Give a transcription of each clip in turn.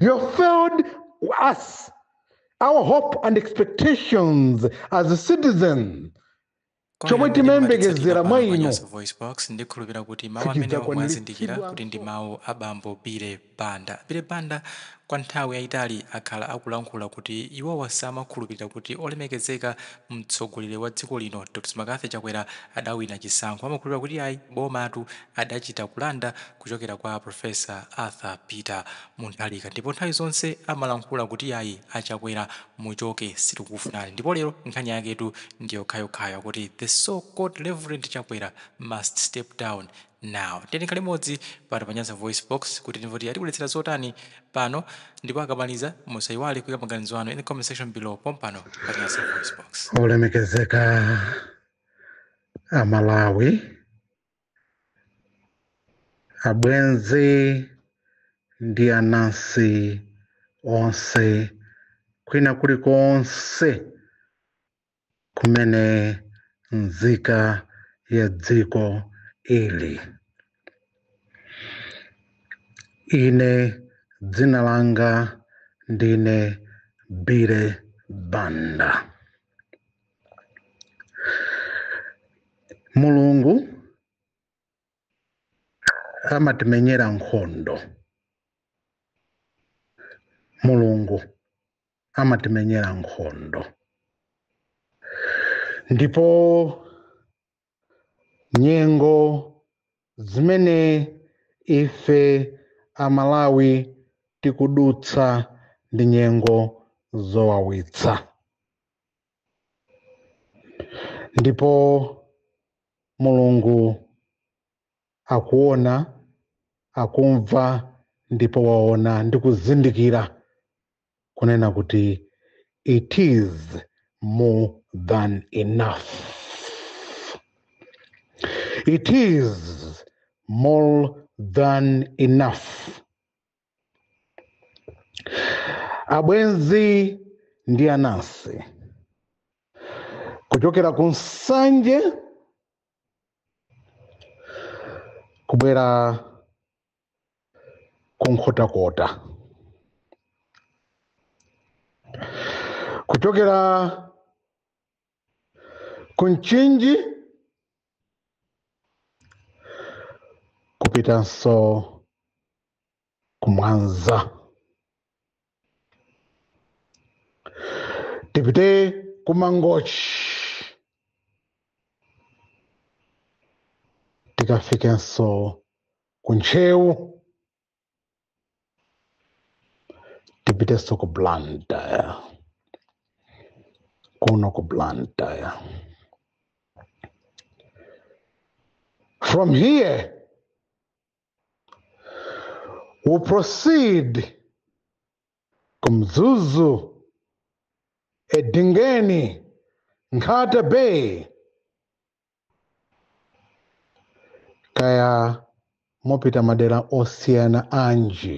You have failed us, our hope and expectations as a citizen. chomwe timayembekezera mwa inu Voice Box ndikhulupira kuti mawu amenewa mwazindikira kuti ndi mawu a bambo Billy Banda. Billy Banda kwa nthawi yayitali akhala akulankhula kuti iwowa samakhulupirira kuti olemekezeka mtsogoleri wa dziko lino Dr. Makathi Chakwera adawina chisankho. Amakhulupirira kuti ayi bomatu adachita kulanda kuchokera kwa Professor Arthur Peter Mutharika ndipo nthawi zonse amalankhula kuti yayi a Chakwera muchoke sitikufunani ndipo lero nkhani yaketu ndiyokhayokhayo kuti the so called Reverend Chakwera must step down now. Tiyeni tikhale limodzi pano pa Nyasa VoiceBox kuti timve kuti atibweretsera zotani pano ndipo akamaliza musayiwale kuyika maganizo anu in the comment section below pompano pa Nyasa VoiceBox. olemekezeka amalawi abwenzi ndi anansi onse kwina kulikonse kumene nzika ya dziko ili ine dzina langa ndine billy banda mulungu amatimenyera nkhondo mulungu amatimenyera nkhondo ndipo nyengo zimene ife amalawi tikudutsa ndi nyengo zowawitsa ndipo mulungu akuona akumva ndipo waona ndi kuzindikira kunena kuti it is more than enough it is more than enough abwenzi ndi anansi kuchokera ku nsanje kubwera ku nkhotakota kuchokera ku mchinji kupitanso ku mwanza tipite ku mangochi tikafikenso ku ntcheu tipitenso ku blantyre kuno ku blantyre from here we'll proceed ku mzuzu edingeni nkhata bay kaya mopita madera osiyana anji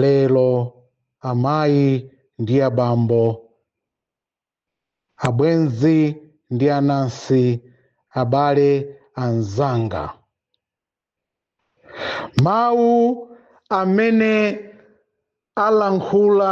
lero amayi ndi abambo abwenzi ndi anansi abale anzanga mawu amene alankhula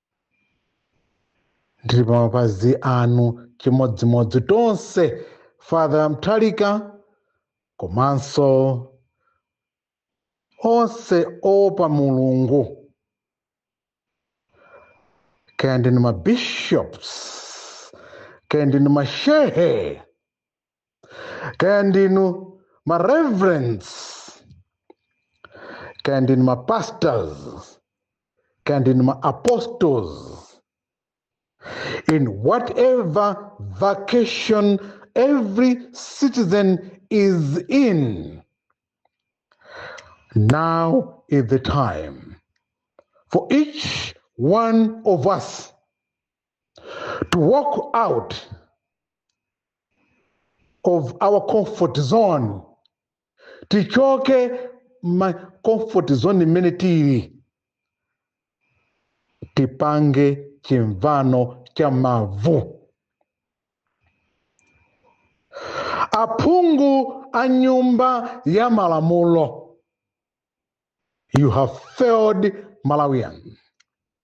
ndili pa mapazi anu chimodzimodzi tonse father mutharika komanso onse oopa mulungu kaya ndinu mabishops kaya ndinu mashehe kaya ndinu ma reverends kaya ndinu ma pastors kaya ndinu ma apostles in whatever vacation every citizen is in now is the time for each one of us to walk out of our comfort zone tichoke ma comfort zone imene tili tipange chimvano cha mavu aphungu a nyumba ya malamulo you have failed malawians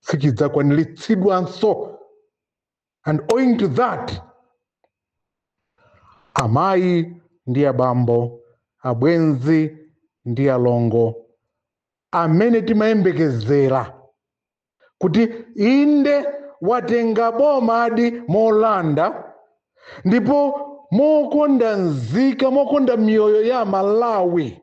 sichidzakwaniritsidwanso and owing to that amayi ndi abambo abwenzi ndi alongo amene timayembekezera kuti inde watenga bomadi molanda ndipo mokonda nzika mokonda miyoyo ya amalawi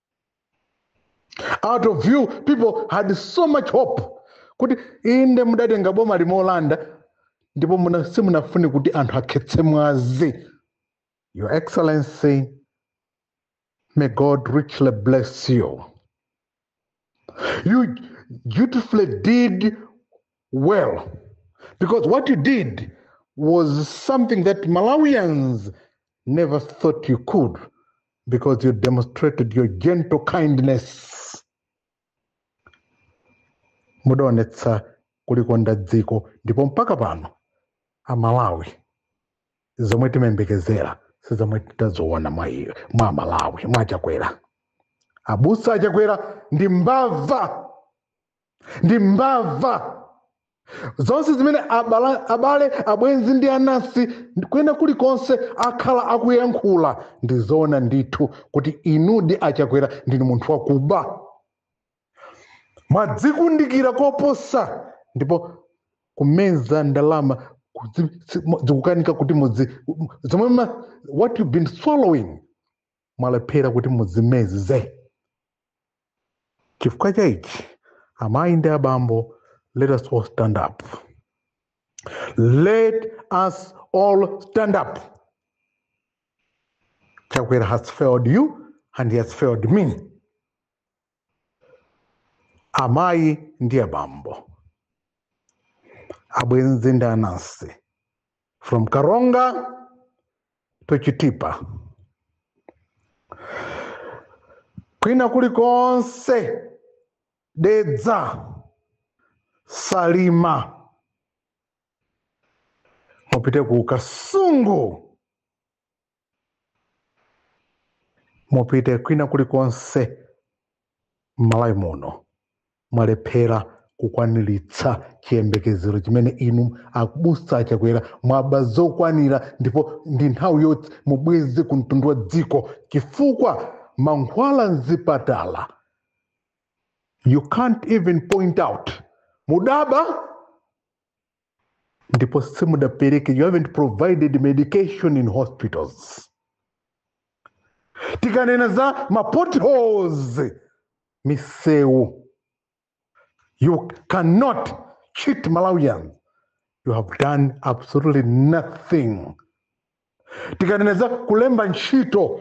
out of you people had so much hope kuti inde mudatenga bomali molanda ndipo muna- simunafune kuti anthu akhetse mwazi your excellency may god richly bless you you dutifully did well because what you did was something that Malawians never thought you could because you demonstrated your gentle kindness. Mudaonetsa kulikonda dziko ndipo mpaka pano amalawi zomwe timayembekezera si zomwe titazaone mwa iyo mwa amalawi mwa chakwera abusa achakwera ndi mbava ndi mbava zonse zimene abala, abale abwenzi ndi anansi kwina kulikonse akhala akuyankhula ndizoona ndithu kuti inudi a Chakwera ndinu munthu wakuba mwadzikundikira koposa ndipo kumeza ndalama kudzi- si- mo- zikukanika kuti mudzi zomwe ma- what you've been swallowing mwalephera kuti mudzimeze chifukwa cha ichi amayi ndi abambo let us all stand up let us all stand up chakwera has failed you and he has failed me amayi ndi abambo abwenzi ndi anansi from Karonga to Chitipa kwina kulikonse Dedza Salima mupite ku Kasungu mupite kwina kulikonse Malawi muno mwalephera kukwaniritsa chiyembekezero chimene inu abusa a Chakwera mwaba zokwanira ndipo ndi nthawi yoti mubweze ku mtundu wa dziko chifukwa mankhwala mzipatala you can't even point out mudaba ndipo simudapereke you haven't provided medication in hospitals tikanena za ma potholes misewu you cannot cheat malawians you have done absolutely nothing tikanena za kulemba ntchito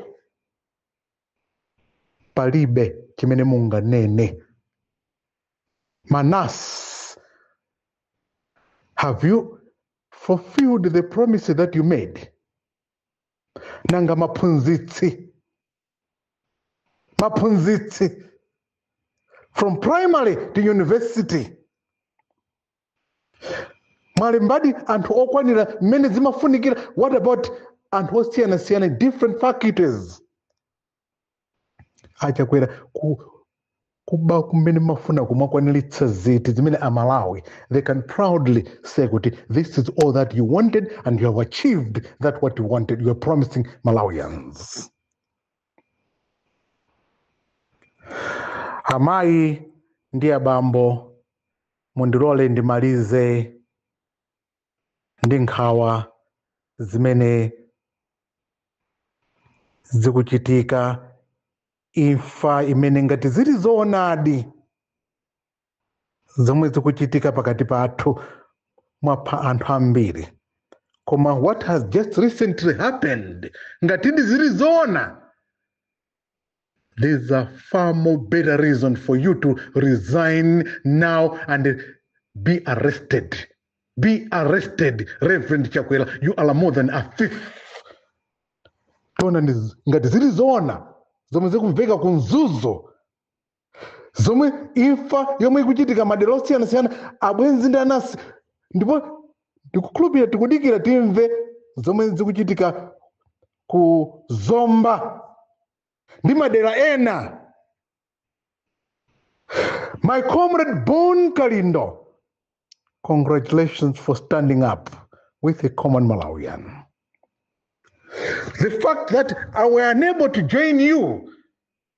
palibe chimene munganene ma nurse have you fulfilled the promise that you made nanga maphunzitsi maphunzitsi from primary to university mwalembadi anthu okwanira mmene zimafunikira what about anthu osiyanasiyana in different faculties a Chakwera ku, kuba kumene mafuna kumakwaniritsa ziti zimene amalawi they can proudly say kuti this is all that you wanted and you have achieved that what you wanted you are promising malawians amayi ndi abambo Mundilole ndimalize ndi nkhawa zimene zikuchitika, imfa imene ngati zili zoonadi zomwe zikuchitika pakati pathu mwapha anthu ambiri koma what has just recently happened ngatidi zili zoona there's a far more better reason for you to resign now and be arrested. Be arrested, Reverend Chakwera. You are more than a thief. Tona ndi- ngati zili zoona zomwe zikumveka ku mzuzu zomwe imfa yomwe ikuchitika madera osiyanasiyana abwenzi ndi anansi ndipo ndikukhulupirira tikudikira timve zomwe zikuchitika ku zomba ndi madera ena my comrade bon kalindo congratulations for standing up with a common malawian the fact that i was unable to join you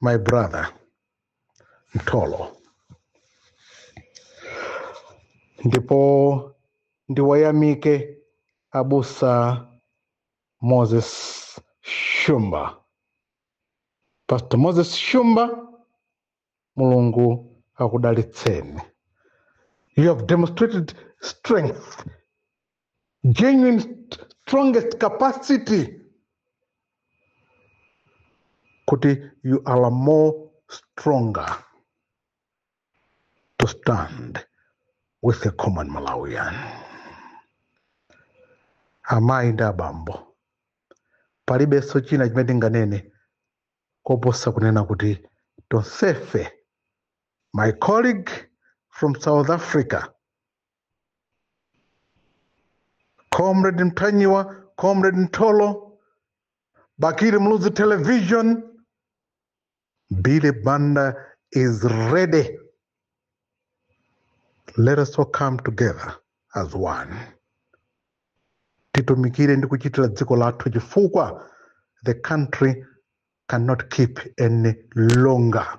my brother mtolo ndipo ndiwayamike abusa moses shumba pastor moses shumba mulungu akudalitseni you have demonstrated strength genuine st- strongest capacity kuti you are more stronger to stand with a common malawian amayi ndi abambo palibenso china chimene tinganene koposa kunena kuti tonsefe my colleague from south africa Comrade Mtanyiwa, Comrade Ntolo, Bakiri Muluzi Television, Billy Banda is ready. Let us all come together as one. Titumikire ndi kuchitira dziko lathu chifukwa the country cannot keep any longer.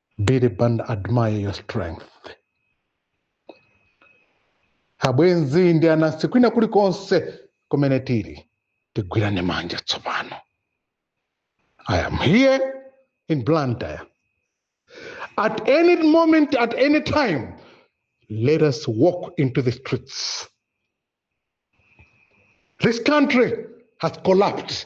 Billy Banda admire your strength. Abwenzi ndi anansi kwina kulikonse kumene tili tigwirane manja tsopano. I am here in Blantyre. At any moment, at any time, let us walk into the streets. This country has collapsed.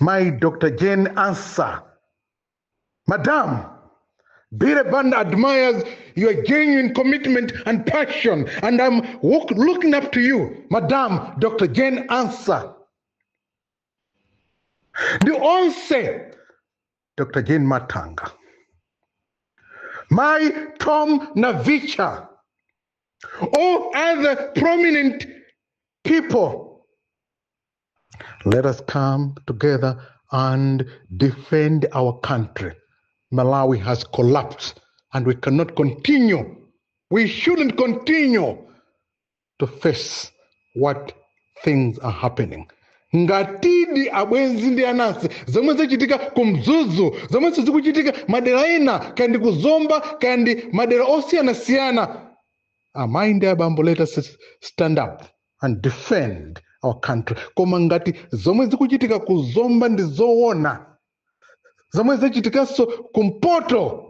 Mayi Dr. Jane Ansah, Madam, Billy Banda admires your genuine commitment and passion, and I'm walk, looking up to you, Madam Dr. Jane Ansah. Ndi onse Dr. Jane Matanga, Mai Tom Navicha, all other prominent people Let us come together and defend our country. Malawi has collapsed and we cannot continue. We shouldn't continue to face what things are happening. ngatidi abwenzi ndi anansi zomwe zachitika ku mzuzu zomwe zikuchitika madera ena kaya ndi kuzomba kaya ndi madera osiyanasiyana amayi ndi abambo let us stand up and defend our country koma ngati zomwe zikuchitika ku zomba ndi zoona zomwe zachitikanso kumpoto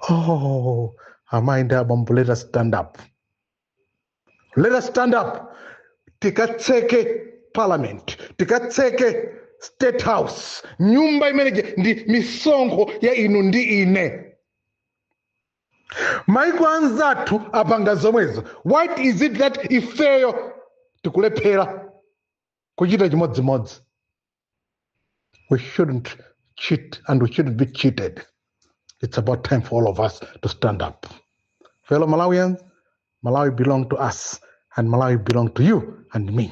oh amayi ndi abambo let us stand up let us stand up tikatseke parliament tikatseke state house nyumba imeneje ndi misonkho ya inu ndi ine maiko anzathu apanga zomwezo what is it that ifeyo tikulephera kuchita chimodzimodzi we shouldn't cheat and we shouldn't be cheated it's about time for all of us to stand up fellow malawians malawi belong to us and malawi belong to you and me